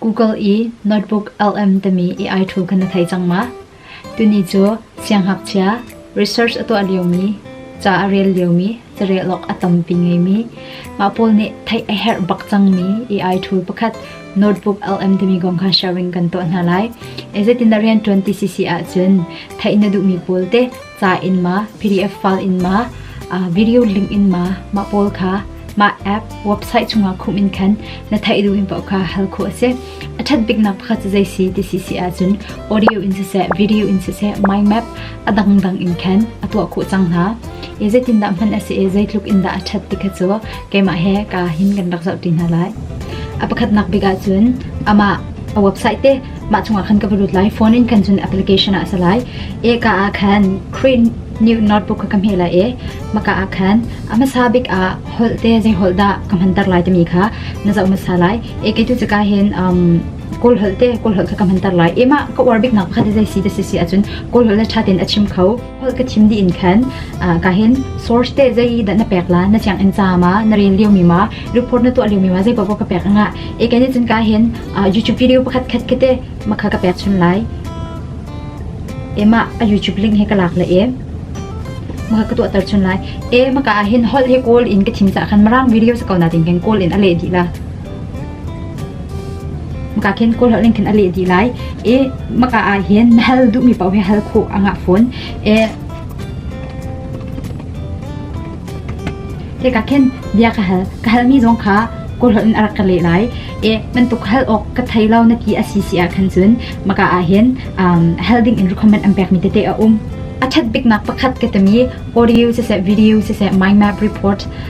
Google i notebook LM timi AI tool kha na thei cang ma? Tuni cu sianghngakchia, research a tuah liomi, ca a rel liomi, carelawk a tampi ngeimi, mah pawl nih theih a herh bak cangmi AI tool pakhat notebook LM timi kong kha sharing kan tuah hna lai. Zeitin dah rianṭuan ti si si ahcun theih na duhmi pawl te ca in maw PDF file in maw video link in maw mah pawl kha mah app website chungah khum in khan na theih duh in pau kha hal khu ase a that bik nak pakhat jai si ti si si a chun audio in se se video in se se my map adang dang in khan atwa khu chang na e zetin da man ase e zeitluk in da a that ti kha cho keima he ka hin kan rak zau ti na lai apakhat nak biga chun ama a website te mah chungah khan ka va lut lai phone in kan cun application ah sa lai e ka ah khan Queen new notebook ka me la e maka ah khan amasa bik a holte zai holda ka mantar lai tami kha na zau masa lai e ke tu chaka hen um kol holte kol hol ka mantar lai ema ka war bik nak khat zai si da si si achun kol hol tha ten achim khau holh ka thim dih in khan ka hin source te zei dah na pek la na chiang in ca ma na rel lio mi ma report na tuah lio mi ma zei pa ka pek anga e kan chin ka hin youtube video pakhat khat kate makha ka pek chun lai ema a youtube link he ka lak la e maka ka tuah tar chun lai e maka hin hol he call in ka thim cha khan marang video sa kauna ting khan call in ale di la ka khin kul hal ning khin a leh di lai e maka a hin hal du mi pau he hal kho anga phone e te ka khin bia ka hal ka hal mi zong kha kul hal in arak ka le lai e man tuk hal ok ka thai lau na ti a si si a khan chun maka a hin hal ding in recommend am pek mi te te a um a that bik nak pakhat ke tami audio se se video se se mind map report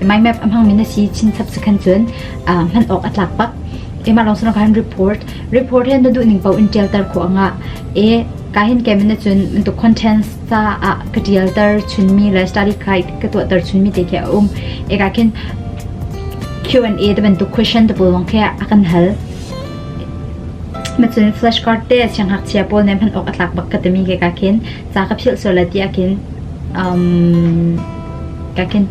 MIMAP a hmangmi na si chinchap cu khan cun hman awk a tlak bak. Keimah lawng sung khan report report hi na duh ning paoh in tialter khawh angah e ka hin kemen na cun tu contents ta ah ka tialter chunmi le study guide ka tuahter chunmi te khi a um e ka khin Q&A te bantuk question te polong khi a kan hal macun flashcard te siang hak chia pol nem han ok atlak bak ka temi ke ka khin cha ka phil so la ti akin um ka khin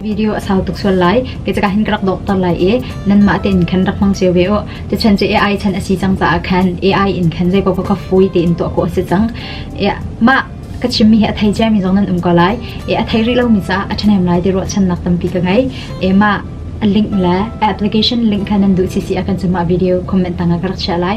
video a sau tuk sual lai kei caka hin ka rak dohter lai i nanmah tein khan rak hmang cio ve u tuchan cu AI chan a si cang caah khan AI in khan zei paoh kha fui tein tuah khawh a si cang mah ka chimmi hi a thei ciami zong nan um ko lai e a thei rih lomi caah a ṭhahnem lai ti ruahchannak tampi ka ngei e mah a link le application link kha nan duh sisi a kan cumah video comment tangah ka rak share lai